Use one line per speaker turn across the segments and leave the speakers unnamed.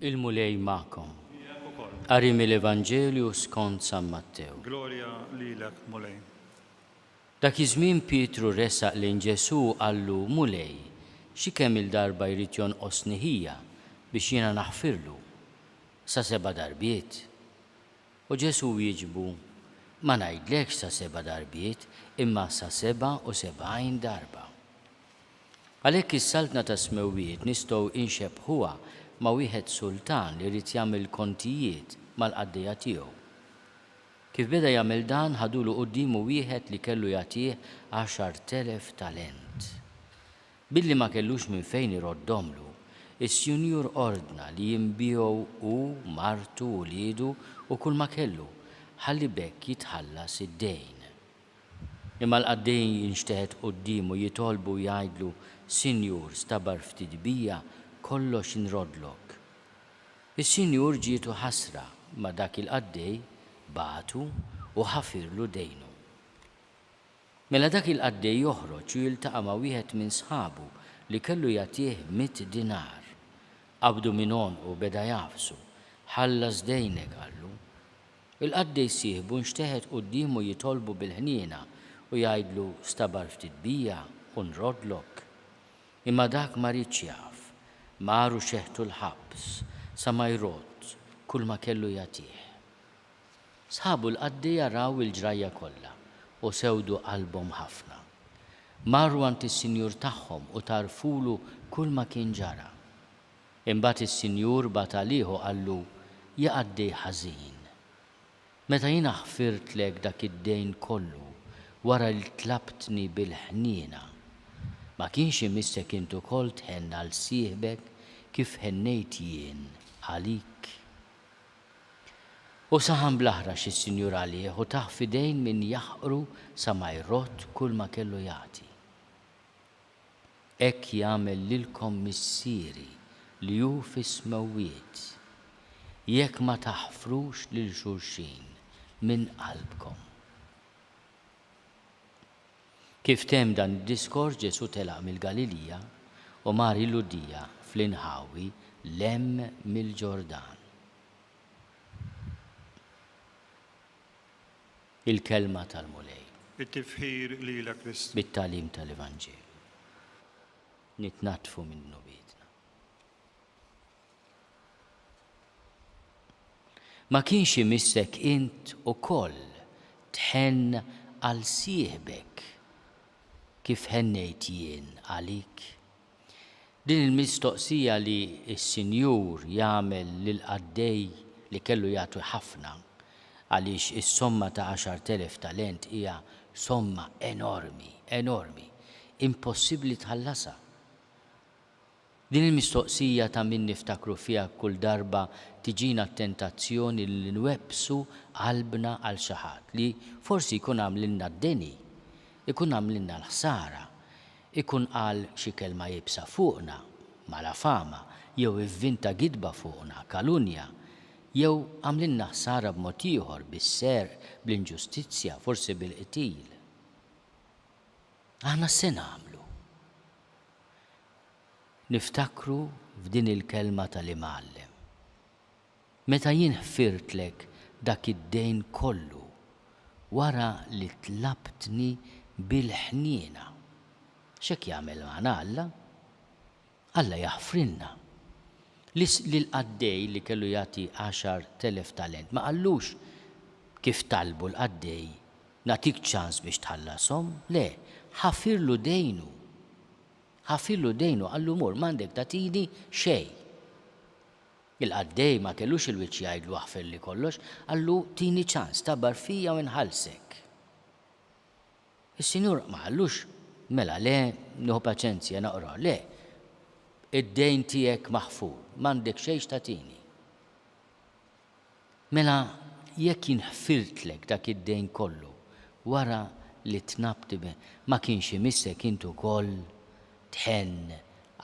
il-Mulej ma'kom. Qari mill-Evanġelju skont San Mattew. Glorja lilek,
Mulej. Dak
iż-żmien Pietru resaq lejn Ġesù qallu, Mulej, xi kemm il-darba jrid jonqosni ħija biex jiena naħfirlu? Sa seba' darbiet? U Ġesù wieġbu, Ma ngħidlekx sa seba' darbiet, imma sa sebgħa u sebgħin darba. Għalhekk is-Saltna tas-Smewwiet nistgħu inxebbħuha ma' wieħed sultan li ried jagħmel kontijiet mal-qaddejja tiegħu. Kif beda jagħmel dan ħadulu quddiemu wieħed li kellu jagħtih għaxart elef talent. Billi ma kellux minn fejn iroddhomlu, is-Sinjur ordna li jinbiegħu hu, martu, uliedu u kulma kellu, ħalli b'hekk jitħallas id-dejn. Imma l-qaddej jinxteħet quddiemu, jitolbu u jgħidlu, Sinjur, stabar ftit bija, kollox inroddlok. Is-Sinjur ġietu ħasra, imma dak il-qaddej bagħtu u ħafirlu dejnu. Mela dak il-qaddej joħroġ u jiltaqa' ma' wieħed minn sħabu li kellu jagħtih mitt dinar. Qabdu minn għonqu u beda jagħfsu. Ħallas dejnek, qallu. Il-qaddej sieħbu nxteħet quddiemu jitolbu bil-ħniena u jgħidlu stabar ftit bija u nroddlok. Imma dak ma riedx jaf. Mar u xeħtu l-ħabs sa ma jrodd kulma kellu jagħtih. Sħabu l-qaddi araw il-ġrajja kollha u sewdu qalbhom ħafna. Marru għand is-sinjur tagħhom u tgħarrfulu kull ma kien ġara. Imbagħad is-sinjur bagħat għalih u qallu, Ja qaddi ħażin! Meta jiena ħfirtlek dak id-dejn kollu wara li tlabtni bil-ħniena, ma kienx imissek int ukoll tħenn għal sieħbek kif ħennejt jien għalik? U saħan bl-aħrax is-Sinjur għalih u tah f'idejn min jaħqru sa ma jrodd kull ma kellu jagħti. Hekk jagħmel lilkom Missieri li hu fis-smewwiet, jekk ma taħfrux lil xulxin minn qalbkom. Kif temm dan id-diskors Ġesù telaq mill-Galilija u mar il-Lhudija fl-inħawi 'l hemm mill-Ġordan. Il-Kelma tal-Mulej. It-tifħir
lilek Kristu. Bit-tagħlim tal-Evanġelju
nitnaddfu minn dnubietna. Ma kienx imissek int ukoll tħenn għal sieħbek kif ħennejt jien għalik? Din il-mistoqsija li s-Sinjur jagħmel lill-qaddej li kellu jagħti ħafna, għaliex is-somma ta' għaxart elef talent hija somma enormi, enormi, impossibbli tħallasha. Din il-mistoqsija ta' min niftakru fiha kull darba tiġina t-tentazzjoni li nwebbsu qalbna għal xi ħadd li forsi jkun għamlilna d-deni, ikun għamlilna l-ħsara, ikun qal xi kelma iebsa fuqna, mala fama, jew ivvinta gidba fuqna, kalunja, jew għamlilna ħsara b'mod ieħor, bis-serq, bl-inġustizzja, forsi bil-qtil. Aħna x'se nagħmlu? Niftakru f'din il-kelma tal-Imgħallem, Meta jien ħfirtlek dak id-dejn kollu wara li tlabtni bil-ħniena. X'hekk jagħmel magħna Alla. Alla jaħfrilna. Lill-qaddej li kellu jagħti għaxar telef talent ma qallux kif talbu l-qaddej, Nagħtik ċans biex tħallashom. Le, ħafirlu dejnu. Ħafirlu d-dejn u qallu mur, m'għandek tagħtini xejn. Il-qaddej ma kellux il-wiċċ jgħidlu aħfirli kollox, qallu tini ċans, tabar fija u nħallsek. Is-Sinjur ma qallux mela le, nieħu paċenzja naqrah, le, id-dejn tiegħek maħfur, m'għandek xejn x'tagħtini. Mela jekk jien ħfirtlek dak id-dejn kollu wara li tnabbt ma kienx imissek int ukoll tħenn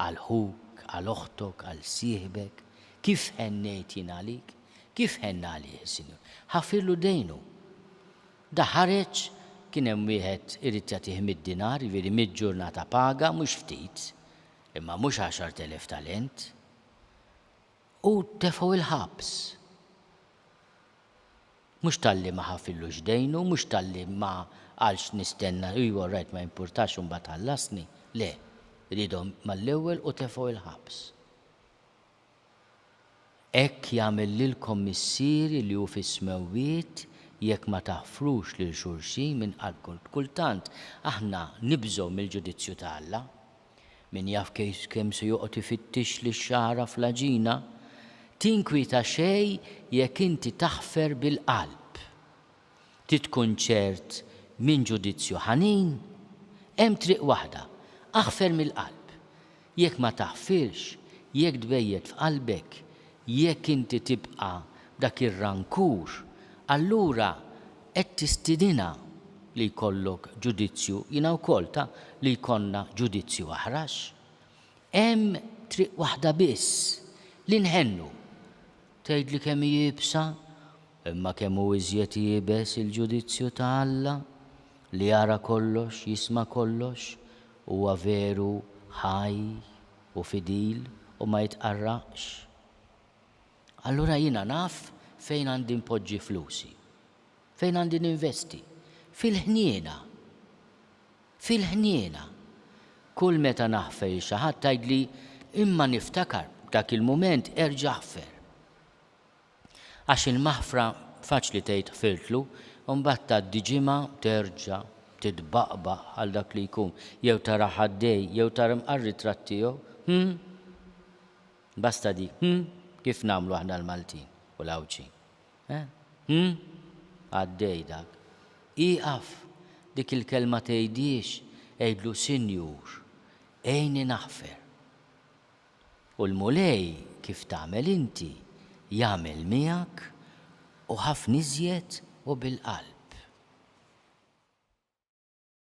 għal ħuk, għal oħtok, għal sieħbek, kif ħennejt jien għalik? Kif ħenna għalih is-Sinjur? Ħafirlu dejnu. Da ħareġ, kien hemm wieħed irid jagħtih mitt dinar, jiġifieri mitt ġurnata paga, mhux ftit, imma mhux għaxart elef talent. U tefgħu l-ħabs. Mhux talli ma ħafillux dejnu, mhux talli ma qalx nistenna, ejwa all right ma jimpurtax imbagħad ħallasni, le, riedhom mal-ewwel u tefgħu l-ħabs. Hekk jagħmel lilkom Missieri li hu fis-smewwiet jekk ma taħfrux lil xulxin minn qalbkom. Kultant aħna nibżgħu mill-ġudizzju ta' Alla. Min jaf kemm se joqgħod ifittixli x-xagħra fl-għaġina? Tinkwieta xejn jekk inti taħfer bil-qalb. Trid tkun ċert minn ġudizzju ħanin? Hemm triq waħda, aħfer mill-qalb. Jekk ma taħfirx, jekk tbejjet f'qalbek, jekk inti tibqa' b'dak ir-rankur, allura Qed tistidinha li jkollok ġudizzju, jiena wkoll, ta' li jkollna ġudizzju aħrax. Hemm triq waħda biss, li nħennu. Tgħidli kemm hi iebsa? Imma kemm hu iżjed iebes il-ġudizzju ta' Alla, li jara kollox, jisma' kollox, huwa veru ħaj u fidil u ma jitqarraqx. allura jiena naf fejn għandi npoġġi flusi. Fejn għandi ninvesti? Fil-ħniena. Fil-ħniena. Kull meta naħfer il xi ħadd tgħidli, imma niftakar, dak il-mument erġa' ħfer. Għax il-maħfra faċli tgħid ħfirtlu, u mbagħad tgħaddi ġimgħa terġa' titbaqbaq għal dak li jkun, jew tarah għaddej, jew tara mqarr-ritratt tiegħu. Hm? Basta dik, hm? Kif nagħmlu aħna l-Maltin u l-Għawdxin? Eh? Hm? Għaddej dak. Ieqaf! Dik il-kelma tgħidhiex, għidlu Sinjur, għinni naħfer. U l-Mulej kif tagħmel inti, jagħmel miegħek u ħafna iżjed u bil-qalb.